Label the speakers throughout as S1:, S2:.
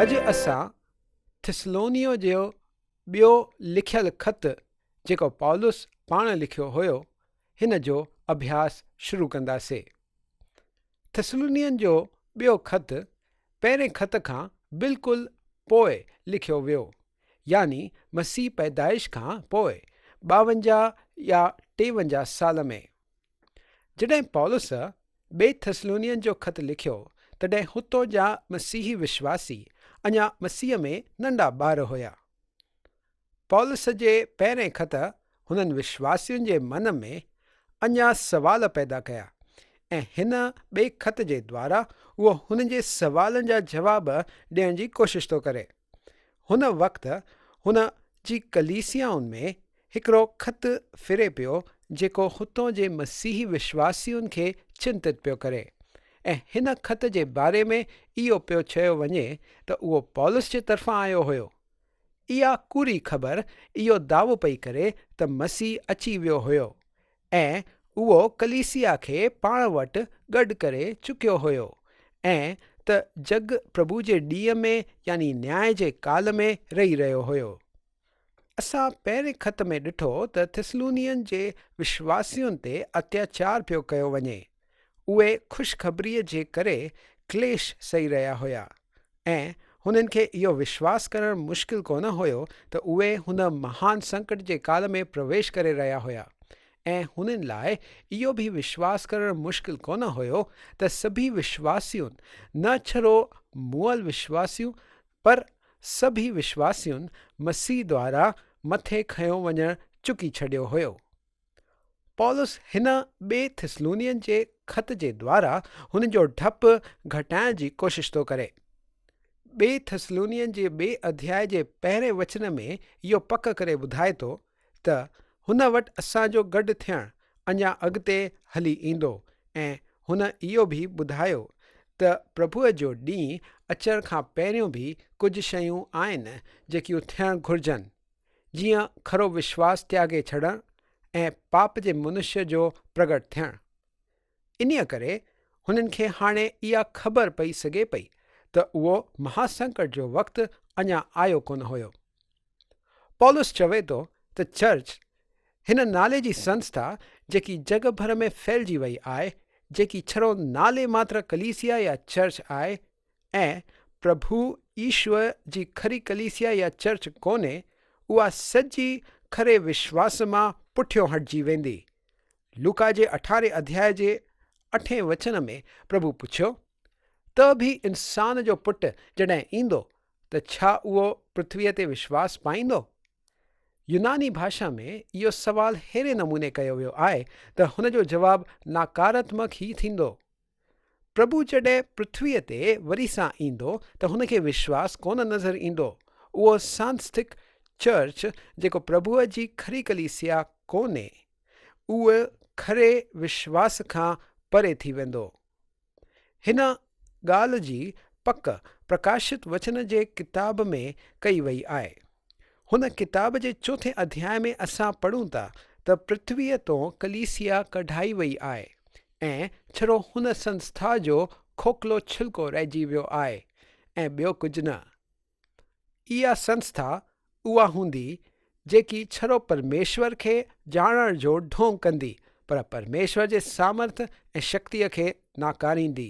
S1: اڄ اسان ٿسلونيء جو ٻيو لکيل خط، جيڪو پولس پاڻ لکيو هيو، هن جو اڀياس شروع ڪنداسين. ٿسلونين جو ٻيو خط پهرين خط کان بلڪل پوء لکيو ويو، يعني مسيح پيدائش کان پوء ٻاونجاهه يا ٽيونجاهه سال ۾. جڏهن پولس ٻئي ٿسلونين جو خط لکيو، تڏهن هتو جا مسيحي وشواسي اڃا مسيح ۾ ننڍا ٻار هيا. پولس جي پهرئين خط هنن وشواسين جي من ۾ اڃا سوال پيدا ڪيا ۽ هن ٻئي خط جي دوارا اهو هنن جي سوالن جا جواب ڏيڻ جي ڪوشش ٿو ڪري. هن وقت هن جي ڪليسيائن ۾ هڪڙو خط ڦري پيو جيڪو هتون جي مسيحي وشواسين کي چنتت پيو ڪري ۽ هن خط جي باري ۾ اهو پيو چيو وڃي ته اهو پولس جي طرفان آيو هيو. اها ڪوري خبر اهو دعوو پئي ڪري ته مسيح اچي ويو هيو ۽ اهو ڪليسيا کي پاڻ وٽ گڏ ڪري چڪيو هيو ۽ ته جڳ پرڀو جي ڏينهن ۾ يعني نياء جي ڪال ۾ رهي رهيو هيو. اسان پهرين خط ۾ ڏٺو ته ٿسلونين جي وشواسين تي اتياچار پيو ڪيو وڃي. اهي خوشخبريء جي ڪري ڪليش سهي رهيا هيا ۽ هنن کي اهو وشواس ڪرڻ مشڪل ڪونه هيو ته اهي هن مهان سنڪٽ جي ڪال ۾ پرويش ڪري رهيا هيا ۽ هنن لاء اهو به وشواس ڪرڻ مشڪل ڪونه هيو ته سڀيئي وشواسيون نه ڇرو مئل وشواسيون پر سڀيئي وشواسيون مسيح دوارا مٿي کنيو وڃڻ چڪي ڇڏيو هيو. پولس هن ٻئي ٿسلونين جي خط جي دوارا هن جو ڊپ گهٽائڻ جي ڪوشش ٿو ڪري. ٻئي ٿسلونين جي ٻئي اڌياء جي پهرئين وچن ۾ اهو پڪ ڪري ٻڌائي ٿو ته هن وٽ اسان جو گڏ ٿيڻ اڃا اڳتي هلي ايندو ۽ هن اهو به ٻڌايو ته پرڀوء جو ڏينهن اچڻ کان پهريون به ڪجهه شيون آهن جيڪيون ٿيڻ گهرجن. جيئن کرو وشواس تياڳي ڇڏڻ ۽ پاپ جي منشيء جو پرڳٽ ٿيڻ. انهيء ڪري هنن کي هاڻي اها خبر پئي سگهي پئي ته اهو مهاسنڪٽ جو وقت اڃا آيو ڪونه هيو. پولس چوي ٿو ته چرچ، هن نالي جي سنسٿا جيڪي جڳ ڀر ۾ ڦهلجي وئي آهي، جيڪي ڇرو نالي ماتر ڪليسيا يا چرچ آهي، ۽ پرڀو ايشور جي کري ڪليسيا يا چرچ ڪونهي، اها سڄي کري وشواس مان پٺيو هٽجي ويندي. لوڪا جي اٺارهين اڌياء جي اٺين وچن ۾ پرڀو پڇيو، ته به انسان جو پٽ جڏهن ايندو ته ڇا اهو پرٿويء تي وشواس پائيندو؟ يوناني ڀاشا ۾ اهو سوال ههڙي نموني ڪيو ويو آهي ته هن جو جواب ناڪاراتمڪ ئي ٿيندو. پرڀو جڏهن پرٿويء تي وري سان ايندو ته هن کي وشواس ڪونه نظر ايندو. اهو سانسٿڪ چرچ جيڪو پرڀوء جي کري ڪليسيا ڪونهي، اهو کري وشواس کان پري ٿي ويندو. هن ڳالهه جي پڪ پرڪاشت وچن جي ڪتاب ۾ ڪئي وئي آهي. هن ڪتاب جي چوٿين اڌياء ۾ اسان پڙهون ٿا ته پرٿويء تون ڪليسيا ڪڍائي ويئي آهي ۽ ڇڙو هن سنسٿا جو کوکلو ڇلڪو رهجي ويو آهي ۽ ٻيو ڪجهه نه. اها سنسٿا اها هوندي جيڪي ڇڙو پرميشور کي ڄاڻڻ جو ڍونگ ڪندي پر پرميشور جي سامرٿ ۽ شڪتيء کي ناڪاريندي.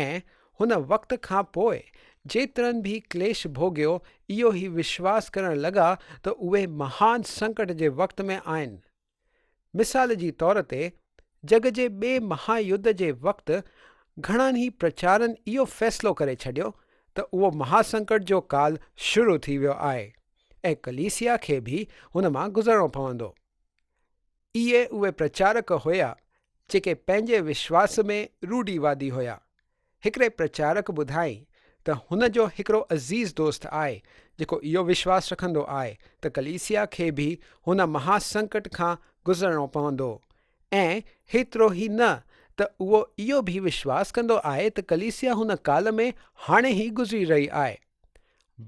S1: ۽ هن وقت کان پوء جيترن به ڪليش ڀوڳيو، اهو ئي وشواس ڪرڻ لڳا ته اهي مهان سنڪٽ جي وقت ۾ آهن. مثال جي طور تي، جڳ جي ٻئي مها يڌ جي وقت گهڻن ئي پرچارن اهو فيصلو ڪري ڇڏيو ته اهو مها سنڪٽ جو ڪال شروع ٿي ويو آهي ۽ ڪليسيا کي به هن مان گذرڻو پوندو. اهي اهي پرچارڪ هيا جيڪي پنهنجي وشواس ۾ روڍيوادي هيا. هڪڙي پرچارڪ ٻڌائين ته هن جو هڪڙو عزيز دوست آهي جيڪو اهو وشواس رکندو آهي ته ڪليسيا کي به هن مها سنڪٽ کان گذرڻو پوندو ۽ هيترو ئي نه ته اهو اهو به وشواس ڪندو آهي ته ڪليسيا هن ڪال ۾ هاڻي ئي گذري رهي آهي.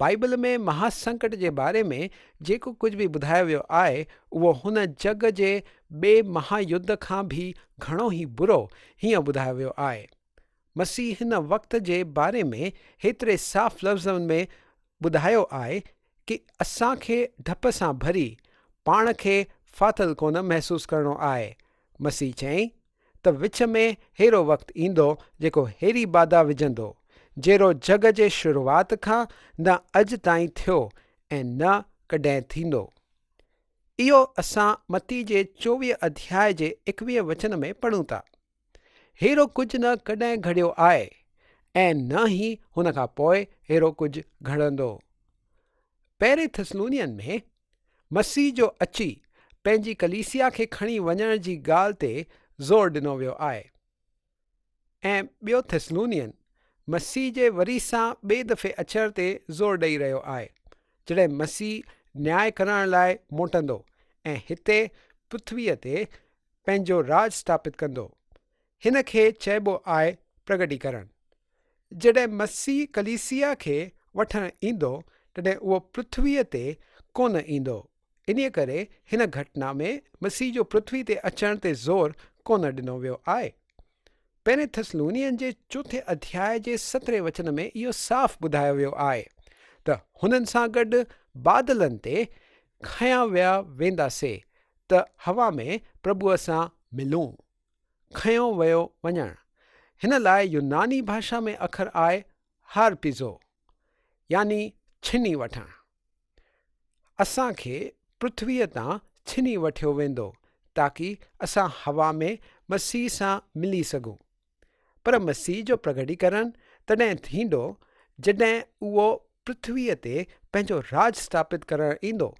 S1: بائيبل ۾ مها سنڪٽ جي باري ۾ جيڪو ڪجهه به ٻڌايو ويو آهي اهو هن جڳ جي ٻئي مها يڌ کان به گهڻو ئي برو هيئن ٻڌايو ويو آهي. مسيح هن وقت جي باري ۾ هيتري صاف لفظن ۾ ٻڌايو آهي ڪي اسان کي ڊپ سان ڀري پاڻ کي ڦاٿل ڪونه محسوس ڪرڻو آهي. مسيح چيائين. ته وچ ۾ ههڙو وقت ايندو جيڪو ههڙي بادا وجهندو، جهڙو جڳ جي شروعات کان نه اڄ تائين ٿيو ۽ نه ڪڏهن ٿيندو. اهو اسان متي جي چوويهه اڌياء جي ايڪويهه وچن ۾ پڙهون ٿا. ههڙو ڪجهه نه ڪڏهن گهڙيو آهي ۽ نه ئي هن کان پوء ههڙو ڪجهه گهڙندو. پهرين ٿسلونين ۾. مسيح جو اچي پنهنجي ڪليسيا کي کڻي وڃڻ جي ڳالهه تي زور ڏنو ويو آهي ۽ ٻيو ٿسلونين مسيح جي وري سان ٻئي دفعي اچڻ تي زور ڏئي رهيو آهي جڏهن مسيح نياء ڪرڻ لاء موٽندو ۽ هتي پرٿويء تي پنهنجو راڄ اسٿاپت ڪندو هن کي چئبو آهي پرگٽيڪرڻ. جڏهن مسيح ڪليسيا کي وٺڻ ايندو تڏهن اهو پرٿويء تي ڪونه ايندو. انهيء ڪري هن گهٽنا ۾ مسيح جو پرٿويء تي اچڻ تي زور ڪونه ڏنو ويو آهي. پهرين ٿسلونين جي چوٿين اڌياء جي سترهين وچن ۾ اهو صاف ٻڌايو ويو آهي ته هنن سان گڏ بادلن تي کنيا ويا ويندا سي ته هوا ۾ پرڀوء سان ملون. کنيو ويو وڃڻ هن لاء يوناني ڀاشا ۾ اکر آهي هارپيزو يعني ڇني وٺڻ اسان کي پرٿويء تان ڇني وٺيو ويندو تاڪي اسان هوا ۾ مسيح سان ملي سگهون پر مسيح جو پرگٽيڪرڻ تڏهن ٿيندو جڏهن اهو پرٿويء تي پنهنجو راڄ اسٿاپت ڪرڻ ايندو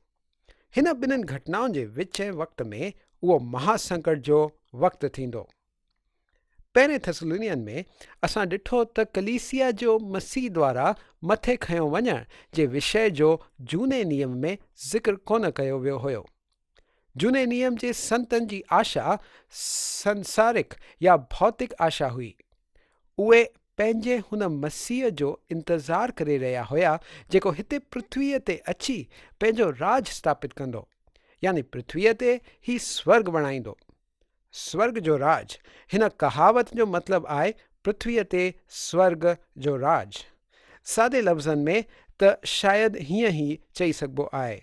S1: هن ٻنهن گهٽنائن جي وچين وقت ۾ اهو مها سنڪٽ جو وقت ٿيندو. پهرين ٿسلونين ۾ اسان ڏٺو ته ڪليسيا جو مسيح دوارا مٿي کنيو وڃڻ جي وشي جو جهوني نيم ۾ ذڪر ڪونه ڪيو ويو هيو. جهوني نيم جي سنتن جي آشا سنسارڪ يا ڀوتڪ آشا هئي. اهي پنهنجي هن مسيح جو انتظار ڪري رهيا هيا جيڪو هتي پرٿويء تي اچي پنهنجو راڄ اسٿاپت ڪندو يعني پرٿويء تي هي سورڳ بڻائيندو. سورڳ جو راڄ، هن ڪهاوت جو مطلب آهي پرٿويء تي سورڳ جو راڄ. سادي لفظن ۾ ته شايد هيئن هي چئي سگهبو آهي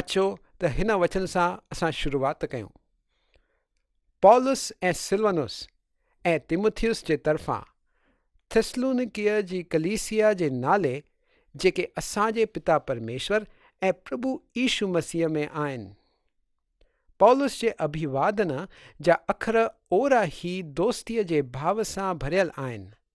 S1: اچو ته هن وچن سان اسان شروعات ڪيون. پولس ۽ سلونس ۽ تيموٿيوس جي طرفان ٿسلونيڪيء جي ڪليسيا جي نالي جيڪي اسان جي پتا پرميشور ۽ پرڀو عيسو مسيح ۾ آهن. پولس جي اڀيوادنا جا اکر اورا هي دوستيء جي ڀاو سان ڀريل آهن.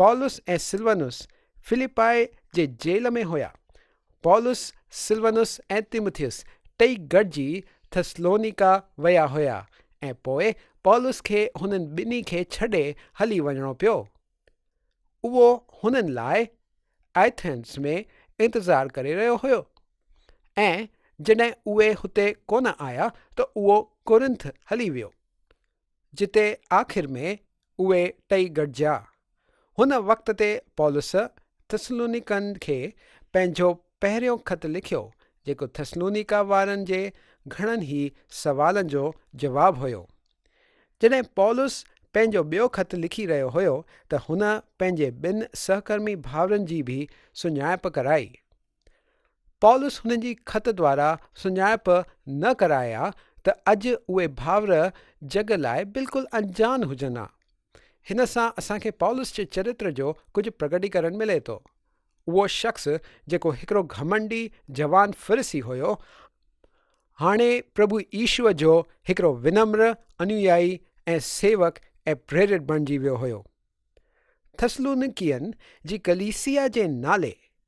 S1: پولس ۽ سلونس فلپائي جي جيل ۾ هيا. پولس، سلونس ۽ تيموٿيس ٽئي گڏجي ٿسلونيڪا ويا هيا ۽ پوء پولس کي هنن ٻنهي کي ڇڏي هلي وڃڻو پيو. اهو هنن لاء ايٿنز ۾ انتظار ڪري رهيو هيو ۽ جڏهن اهي هتي ڪونه آيا ته اهو ڪورنٿ هلي ويو. جتي آخر ۾ اهي ٽئي گڏجيا. هن وقت تي پولس ٿسلونيڪن کي پنهنجو پهريون خط لکيو، جيڪو ٿسلونيڪا وارن جي گهڻن ئي سوالن جو جواب هيو. جڏهن پولس پنهنجو ٻيو خط لکي رهيو هيو ته هن پنهنجي ٻن سهڪرمي ڀائرن جي به سڃاڻپ ڪرائي. پولس هنن جي خط دوارا سڃاڻپ نه ڪرائي ها ته اڄ اهي ڀائر جڳ لاء بلڪل انجان هجن ها. هن سان اسان کي پولس جي چرتر جو ڪجهه پرگٽيڪرڻ ملي ٿو. اهو شخص جيڪو هڪڙو گهمنڊي جوان فريسي هيو، هاڻي پرڀو يسوع جو هڪڙو ونمر انويائي ۽ سيوڪ ۽ پريرت بڻجي ويو هيو. ٿسلونڪين جي ڪليسيا جي نالي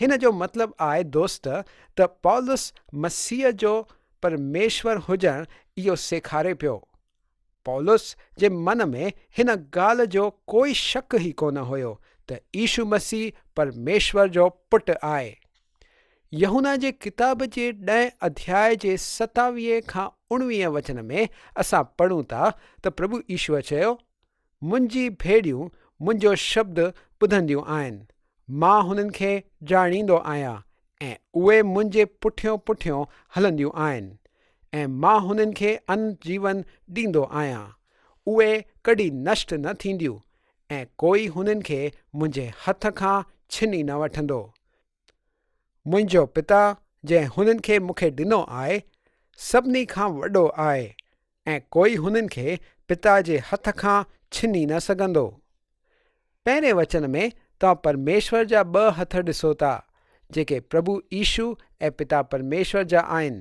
S1: هن جو مطلب آء دوست ته پولس مسيح جو پرميشور هجڻ اهو سيکاري پيو. پولس جي من ۾ هن ڳالهه جو ڪوئي شڪ ئي ڪونه هيو ته عيشو مسيح پرميشور جو پٽ آهي. يحنا جي ڪتاب جي ڏهين اڌياء جي ستاويهه کان اڻويهه وچن ۾ اسان پڙهون ٿا ته پرڀو عيشوء چيو، منهنجي ڀيڙيون منهنجو شبد ٻڌنديون آهن، مان هنن کي ڄاڻيندو آهيان ۽ اهي منهنجي پٺيون پٺيون هلنديون آهن ۽ مان هنن کي ان جيون ڏيندو آهيان، اهي ڪڏي نشٽ نه ٿينديون ۽ ڪوئي هنن کي منهنجي هٿ کان ڇني نه وٺندو، منهنجو پتا جنهن هنن کي مون کي ڏنو آهي، سڀني کان وڏو آهي ۽ ڪوئي هنن کي پتا جي هٿ کان ڇني نه سگهندو. پهرين وچن ۾ توهان پرميشور جا ٻه هٿ ڏسو ٿا، جيڪي پرڀو عيشو ۽ پتا پرميشور جا آهن.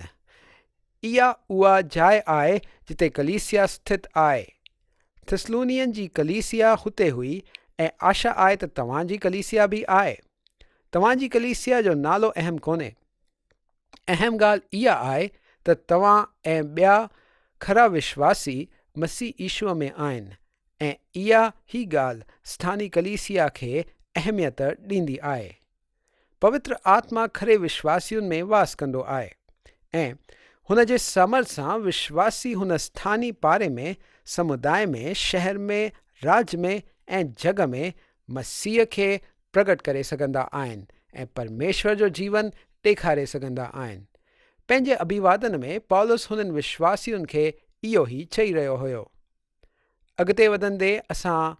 S1: اها اها جاء آهي جتي ڪليسيا اسٿت آهي. ٿسلونين جي ڪليسيا هتي هئي ۽ آشا آهي ته توهان جي ڪليسيا به آهي. توهان جي ڪليسيا جو نالو اهم ڪونهي. اهم ڳالهه اها آهي ته توهان ۽ ٻيا کرا وشواسي مسيح عيسوء ۾ آهن ۽ اها هي ڳالهه سٿاني ڪليسيا کي اهميت ڏيندي آهي. پوتر آتما کري وشواسين ۾ واس ڪندو آهي ۽ هن جي سامر سان وشواسي هن اسٿاني پاري ۾ سموداء ۾ شهر ۾ راڄ ۾ ۽ جڳ ۾ مسيح کي پرگٽ ڪري سگهندا آهن ۽ پرميشور جو جيون ڏيکاري سگهندا آهن. پنهنجي اڀيوادن ۾ پولس هنن وشواسين کي اهو ئي چئي رهيو هيو. اڳتي وڌندي اسان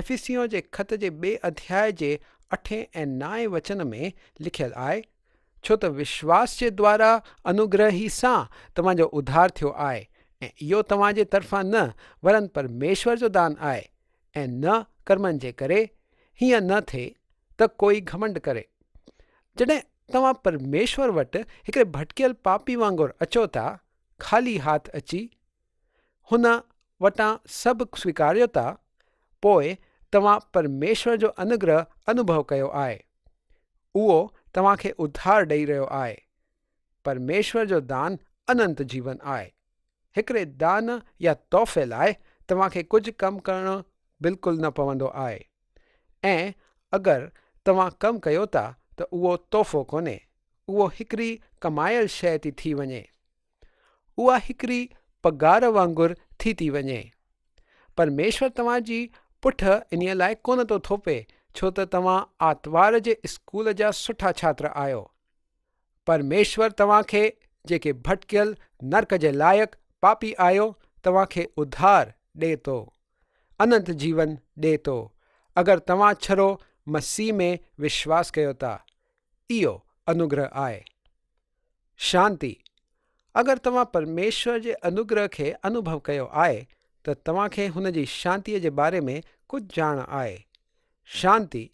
S1: افيسيون جي خط جي ٻئي اڌياء جي اٺين ۽ نائين وچن ۾ لکيل آهي، ڇو ته وشواس جي دوارا انوگرهه ئي سان توهان جو اڌار ٿيو آهي، ۽ اهو توهان جي طرفان نه، ورن پرميشور جو دان آهي، ۽ نه ڪرمن جي ڪري، هيئن نه ٿئي ته ڪوئي گهمنڊ ڪري. جڏهن توهان پرميشور وٽ هڪڙي ڀٽڪيل پاپي وانگر اچو ٿا، خالي هاٿ اچي، هن وٽان سڀ سويڪاريو ٿا، پوء توهان پرميشور جو انوگرهه انوڀو ڪيو آهي. اهو توهان کي اڌار ڏئي رهيو آهي. پرميشور جو دان اننت جيون آهي. هڪڙي دان يا تحفي لاء توهان کي ڪجهه ڪم ڪرڻو بلڪل نه پوندو آهي. ۽ اگر توهان ڪم ڪيو ٿا ته اهو تحفو ڪونهي، اهو هڪڙي ڪمايل شيء ٿي ٿي وڃي. اها هڪڙي پگهار وانگر ٿي ٿي وڃي. پرميشور توهان جي پٺ انهيء لاء ڪونه ٿو ٿوپي ڇو ته توهان آتوار جي اسڪول جا سٺا ڇاتر آهيو. پرميشور توهان کي جيڪي ڀٽڪيل نرڪ جي لائق پاپي آهيو توهان کي اڌار ڏئي ٿو. اننت جيون ڏئي ٿو اگر توهان ڇرو مسيح ۾ وشواس ڪيو ٿا. اهو انوگره آهي. شانتي، اگر توهان پرميشور جي انوگره کي انوڀو ڪيو آهي ته توهان کي هن جي شانتيء جي باري ۾ ڪجهه ڄاڻ آهي. شانتي،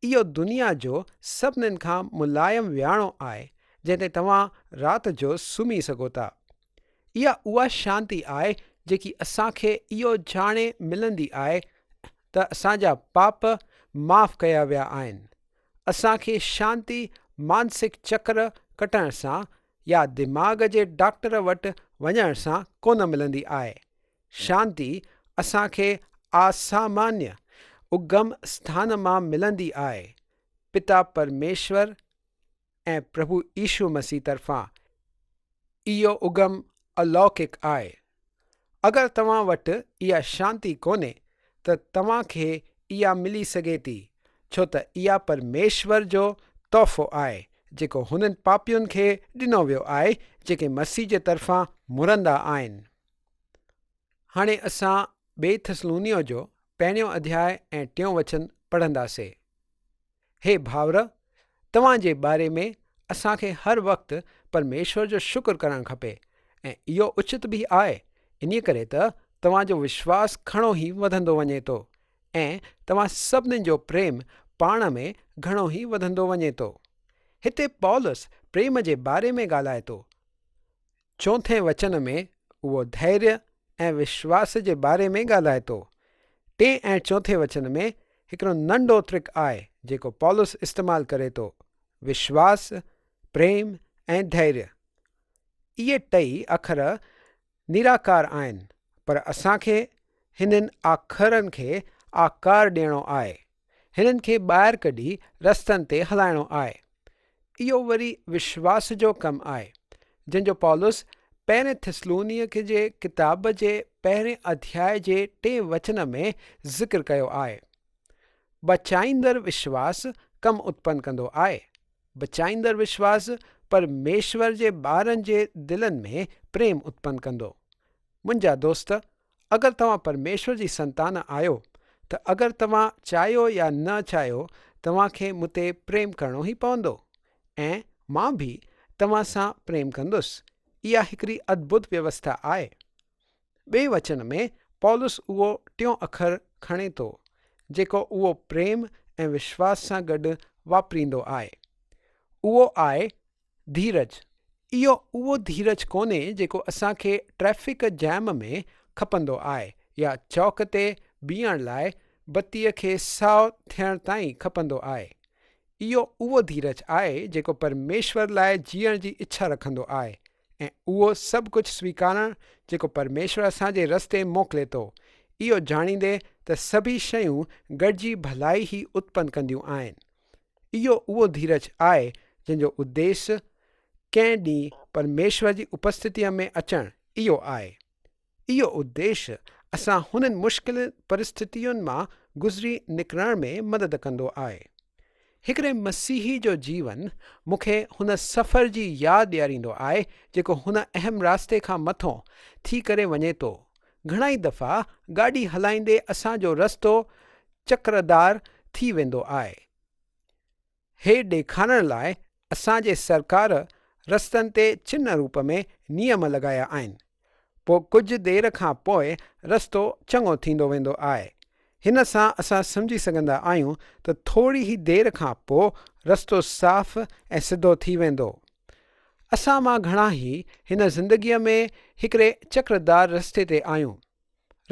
S1: اهو دنيا جو سڀنن کان ملائم وياڻو آهي جنهن تي توهان رات جو سمهي سگهو ٿا. اها اها شانتي آهي جيڪي اسان کي اهو ڄاڻي ملندي آهي ته اسان جا پاپ معاف ڪيا ويا آهن اسان کي شانتي مانسڪ چڪر ڪٽڻ سان يا دماغ جي ڊاڪٽر وٽ وڃڻ سان ڪونه ملندي آهي. شانتي اسان کي آسامانيء، اگم اسٿان مان ملندي آهي. پتا پرميشور ۽ پرڀو عيسو مسيح طرفان اهو اگم الوڪيڪ آهي. اگر توهان وٽ اها شانتي ڪونهي ته توهان کي اها ملي سگهي ٿي ڇو ته اها پرميشور جو تحفو آهي جيڪو هنن پاپين کي ڏنو ويو آهي جيڪي مسيح جي طرفان مرندا آهن. هاڻي اسان ٻئي ٿسلونيو جو پهريون اڌياء ۽ ٽيون وچن پڙهنداسي. هي ڀائر! توهان جي باري ۾ اسان کي هر وقت پرميشور جو شڪر ڪرڻ کپي ۽ اهو اچت به آء، انهيء ڪري ته توهان جو وشواس گهڻو ئي وڌندو وڃي ٿو ۽ توهان سڀني جو پريم پاڻ ۾ گهڻو ئي وڌندو وڃي ٿو. هتي پولس پريم جي باري ۾ ڳالهائي ٿو. چوٿين وچن ۾ اهو ڌيريء ۽ وشواس جي باري ۾ ڳالهائي ٿو. ٽئين ۽ چوٿين وچن ۾ هڪڙو ننڍو ترڪ آهي جيڪو پولس استعمال ڪري ٿو، وشواس، پريم ۽ ڌيريء. اهي ٽئي اکر نراڪار آهن پر اسان کي هنن آکرن کي آڪار ڏيڻو آهي. هنن کي ٻاهر ڪڍي رستن تي هلائڻو آهي. اهو وري وشواس جو ڪم آهي، جنهن جو پولس پهرين ٿسلونيڪي جي ڪتاب جي پهرين اڌياء جي ٽئين وچن ۾ ذڪر ڪيو آهي. بچائيندڙ وشواس ڪم اتپن ڪندو آهي. بچائيندڙ وشواس پرميشور جي ٻارن جي دلن ۾ پريم اتپن ڪندو. منهنجا دوست! اگر توهان پرميشور جي سنتان آهيو ته اگر توهان چاهيو يا نه چاهيو توهان کي مون تي پريم ڪرڻو ئي پوندو ۽ مان به توهان سان پريم ڪندس اها هڪڙي ادڀت ويوسٿا آهي. ٻئي وچن ۾ پولس اهو ٽيون اکر کڻي ٿو جيڪو اهو پريم ۽ وشواس سان گڏ واپريندو آهي اهو آهي ڌيرج، اهو اهو ڌيرج ڪونهي جيڪو اسان کي ٽريفڪ جيم ۾ کپندو آهي يا چوڪ تي بيهڻ لاء بتيء کي سائو ٿيڻ تائين کپندو آهي. اهو اهو ڌيرج آهي جيڪو پرميشور لاء جيئڻ جي اڇا رکندو آهي ۽ اهو سڀ ڪجهه سويڪارڻ جيڪو پرميشور اسان جي رستي موڪلي ٿو، اهو ڄاڻيندي ته سڀئي شيون گڏجي ڀلائي ئي اتپن ڪنديون آهن. اهو اهو ڌيرج آهي جنهن جو اديس ڪنهن ڏينهن پرميشور جي اپستتيء ۾ اچڻ اهو آهي. اهو اديس اسان هنن مشڪل پرستتين مان گذري نڪرڻ ۾ مدد ڪندو آهي. هڪڙي مسيحي جو جيون مون کي هن سفر جي ياد ڏياريندو آهي جيڪو هن اهم راستي کان مٿو ٿي ڪري وڃي ٿو گهڻائي دفعا گاڏي هلائيندي اسان جو رستو چڪردار ٿي ويندو آهي. هي ڏيکارڻ لاء اسان جي سرڪار رستن تي چنه روپ ۾ نيم لڳايا آهن. پوء ڪجهه دير کان پوء رستو چڱو ٿيندو ويندو آهي. هن سان اسان سمجهي سگهندا آهيون ته ٿوري ئي دير کان پوء رستو صاف ۽ سڌو ٿي ويندو. اسان مان گهڻا هي هن زندگيء ۾ هڪڙي چڪر دار رستي تي آهيون.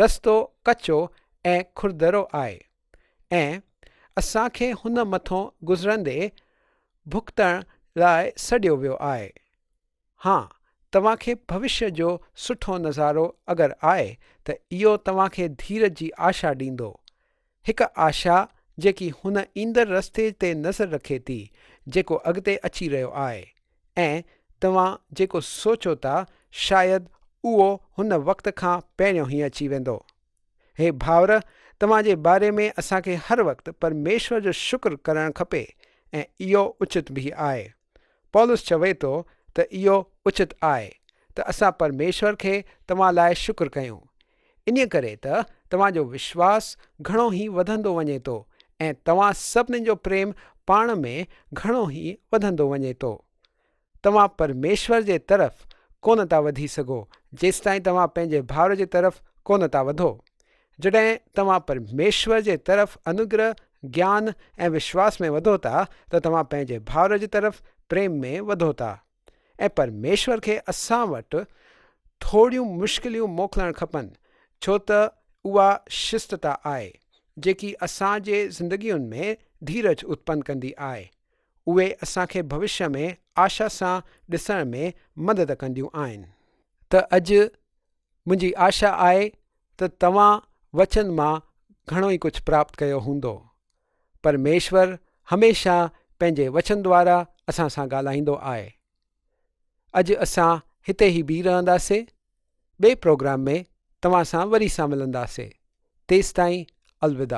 S1: رستو ڪچو ۽ کردرو آهي ۽ اسان کي هن مٿئون گذرندي ڀڳتڻ لاء سڏيو ويو آهي. ها توهان کي ڀوشيء جو سٺو نظارو اگر آهي ته اهو توهان کي ڌيرج جي آشا ڏيندو. هڪ آشا جيڪي هن ايندڙ رستي تي نظر رکي ٿي جيڪو اڳتي اچي رهيو آهي ۽ توهان جيڪو سوچو ٿا شايد اهو هن وقت کان پهريون هي اچي ويندو. هي ڀائر توهان جي باري ۾ اسان کي هر وقت پرميشور جو شڪر ڪرڻ کپي ۽ اهو اچت به آهي. پولس چوي ٿو ته اهو اچت آهي ته اسان پرميشور کي توهان لاء شڪر ڪيون، انهيء ڪري ته توهان جو وشواس گهڻو ئي وڌندو وڃي ٿو ۽ توهان سڀني جو پريم پاڻ ۾ گهڻو ئي وڌندو وڃي ٿو. توهان پرميشور جي طرف ڪونه ٿا وڌي سگهو جيستائين توهان پنهنجي ڀائر جي طرف ڪونه ٿا وڌو. جڏهن توهان پرميشور جي طرف انوگرهه، گيان ۽ وشواس ۾ وڌو ٿا ته توهان پنهنجي ڀائر جي طرف پريم ۾ وڌو ٿا ۽ پرميشور کي اسان وٽ ٿوريون مشڪليون موڪلڻ کپن ڇو ته اها شستتا آهي جيڪي اسان جي زندگين ۾ ڌيرج اتپن ڪندي آهي اهي اسان کي ڀوشيه ۾ آشا سان ڏسڻ ۾ مدد ڪنديون آهن ته اڄ منهنجي آشا آهي ته توهان وچن مان گهڻو ئي ڪجهه پراپت ڪيو هوندو. پرميشور هميشه پنهنجي وچن دوارا اسان سان ڳالهائيندو آهي. اڄ اسان هتي ئي بيهي رهنداسين. ٻئي پروگرام ۾ توهان سان وري سان ملنداسين. تيستائين الوداع.